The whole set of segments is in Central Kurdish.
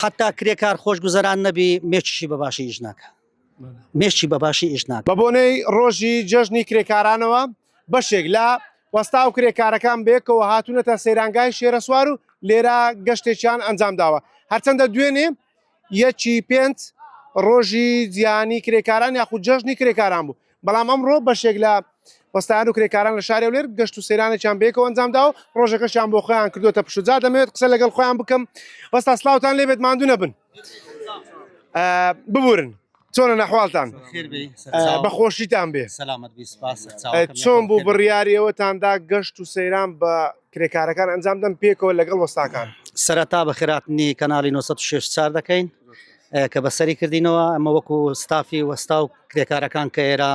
حتا کرێکار خۆشگوزەران نەبی مێچشی بە باشی ئیش ناکە مێشی بە باشی ئیش ناکە بە بۆنەی ڕۆژی جەژنی کرێکارانەوە بەشێک لە وەستا و کرێکارەکان بێکەوە هاتوونەتە سەیرانگای شێرەسوار و لێرە گەشتێکیان ئەنجام داوە هەرچەندە دوێنێ یەکی پێنج ڕۆژی جیهانی کرێکاران یاخود جەژنی کرێکاران بوو بەڵام ئەمڕۆ بەشێک لە وەستایان و کرێکاران لە شاری هەولێر گەشت و سەیرانێکیان بەیەکەوە ئەنجامدا و ڕۆژەکەشیان بۆ خۆیان کردوتە پشوجا دەمەوێت قسە لەگەڵ خۆیان بکەم وەستا سلااوان لێبێت ماندوو نەبن ببورن چۆنە نەحواڵتان بەخۆشیتان بێ چۆن بوو بڕیارەوەتاندا گەشت و سەیران بە کرێکارەکان ئەنجام دەم پێکەوە لەگەڵ وەستاکان سەرەتا بە خێراتنی کەناڵی 964 دەکەین کە بەسەری کردینەوە ئەمە وەکو ستافی وەستا و کرێکارەکان کە ئێرە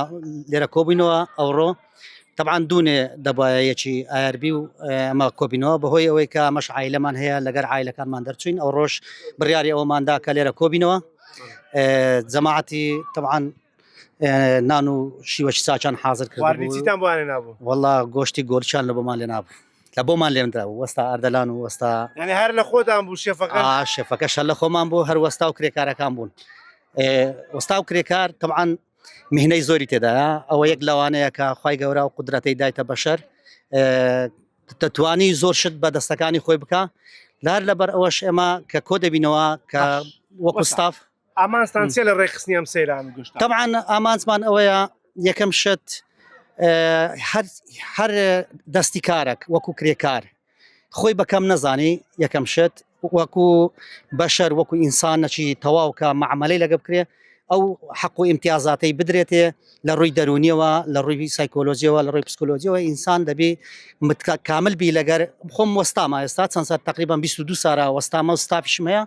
لێرە کۆبووینەوە ئەوڕۆ طبعاان دوونێ دەبایە یەکی ئایربی و ئەمە کۆبینەوە بەهۆی ئەوەی کە مەش عیلەمان هەیە لەگەر عیلەکانمان دەرچوین ئەو ڕۆژ بڕیاری ئەوماندا کە لێرە کۆبینەوە جەماعەتی طبعاان نان و شیوەشی ساچان حاضر کردیتان بۆیان نابوو وەڵا گۆشتی گۆرچان لە بۆمان لێ نابوو لە بۆمان لێندا وەستا ئەردەلان و وەستا یعنی هەر لە خۆتان بوو شێفەکە شێفەکە شە لە خۆمان بۆ هەر وەستا و کرێکارەکان بوون وەستا و کرێکار تەعاان مهنەی زۆری تێدا ئەوە یەک لەوانەیە کە خی گەورە و قدرەتەی دایتە بەشەر دەتوانی زۆر شت بە دەستەکانی خۆی بکە لار لەبەر ئەوەش ئێمە کە کۆ دەبینەوە کە وەکو ستاف ئامانجتان چیە لە ڕێکخستنی ئەم سەیران و گەشتە؟ تەبعەن ئامانجمان ئەوەیە یەکەم شت هەر دەستی کارێک وەکو کرێکار خۆی بەکەم نەزانی یەکەم شت وەکو بەشەر وەکو ئینسان نەچی تەواوکە معمەلەی لەگە بکرێ ئەو حەق و ئیمتیازاتەی بدرێتێ لە ڕووی دەرونیەوە لە ڕووی سایکۆلۆژیەوە لە ڕووی پسکۆلۆژیەوە ئینسان دەبی متکا کامل بی لەگەر خۆم وەستاما ئێستا چەند سات تقریبان 22 سارا وەستامە و ستافیشمەیە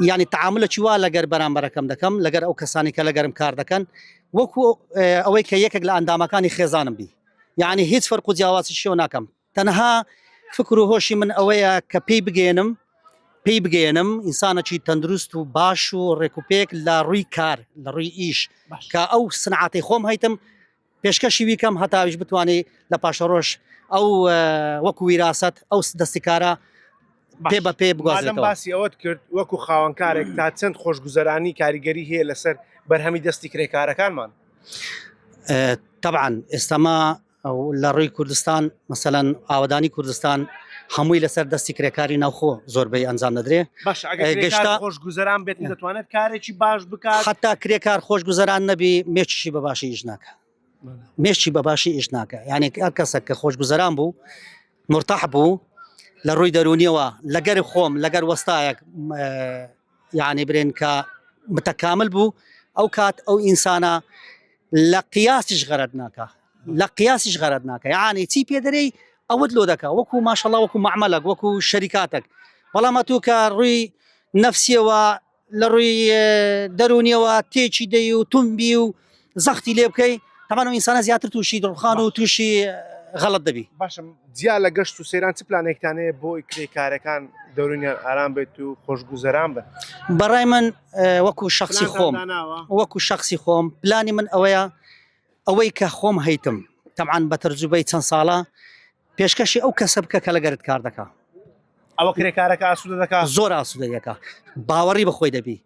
یعنی تعاملێکی وا لەگەر بەرامبەرەکەم دەکەم لەگەر ئەو کەسانی کە لەگەرم کار دەکەن وەکو ئەوەی کە یەکێک لە ئەندامەکانی خێزانم بی یعنی هیچ فەرق و جیاوازی شێو ناکەم تەنها فکر و هۆشی من ئەوەیە کە پێی بگەێنم پێی بگەێنم ئینسانەکی تەندروست و باش و ڕێکوپێک لە ڕووی کار لە ڕووی ئیش کە ئەو سنعاتی خۆم هەیتم پێشکەشی ویکەم هەتا ئەویش بتوانێ لە پاشەڕۆژ ئەو وەکو ویراست ئەو دەستکارە پێ بە پێ بگوازێتەوە باسی ئەوەت کرد وەکو خاوەنکارێک تا چەند خۆشگوزەرانی کاریگەری هەیە لەسەر بەرهەمی دەستی کرێکارەکانمان تەبان ئێستاما لە ڕووی کوردستان مەسەلەن ئاوەدانی کوردستان هەمووی لەسەر دەستی کرێکاری ناوخۆ زۆربەی ئەنجام دەدرێ باش ئەگەر ئەی کرێکار گەشتە- خۆش گوزەران بێت دەتوانێت کارێکی باش بکات حتا کرێکار خۆش گوزەران نەبی مێچشی بە باشی ئیش ناکە مێشی بە باشی ئیش ناکە یعنی ئەر کەسە کە خۆش گوزەران بوو مرتاح بوو لە ڕووی دەرونیەوە لەگەر خۆم لەگەر وەستایەک م، اه، یەعنی برێن کە متەکامل بوو ئەو کات ئەو ئینسانە لە قیاسیش غەرەت ناکە لە قیاسیش غەرەت ناکە یەعنی چی پێدەرەی ئەوت لۆ دەکە وەکو ماشەڵا وەکو معمەلەک وەکو شەریکاتەک بەڵام ئەتوو کە ڕووی نەفسیەوە لە ڕووی دەرونیەوە تێکی دەی و تونبی و زەختی لێ بکەی هەمان و ئینسانە زیاتر تووشی دڵخان و تووشی غەڵت دەبی باشم جیا لە گەشت و سەیران چ پلانێکتانەیە بۆی کرێ کارەکان دەورنیان ئارام بێت و خۆشگوزەران بن بەڕای من وەکو شخصی خۆم وەکو شخصی خۆم پلانی من ئەوەیە ئەوەی کە خۆم هەیتم تەعاان بە تەرجوبەی چەند ساڵە پێشکەشی ئەو کەسە بکە کە لەگەرت کار دەکە ئەوە کرێکارەکە ئاسوودە دەکە زۆر ئاسوودەیەەکە باوەڕی بەخۆی دەبی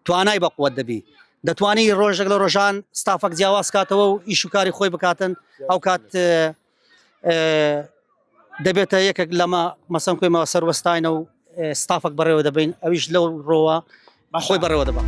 توانای بە قوت دەبی دەتوانی ڕۆژێک لە ڕۆژان ستافەک جیاواز کاتەوە و ئیش و کاری خۆی بکاتن ئەو کات دەبێتە یەکێک لەمە مەسم کوێمەوە سەروەستاینە و ستافەک بەڕێوە دەبین ئەویش لەو ڕۆوە خۆی بەڕێوە دەبات.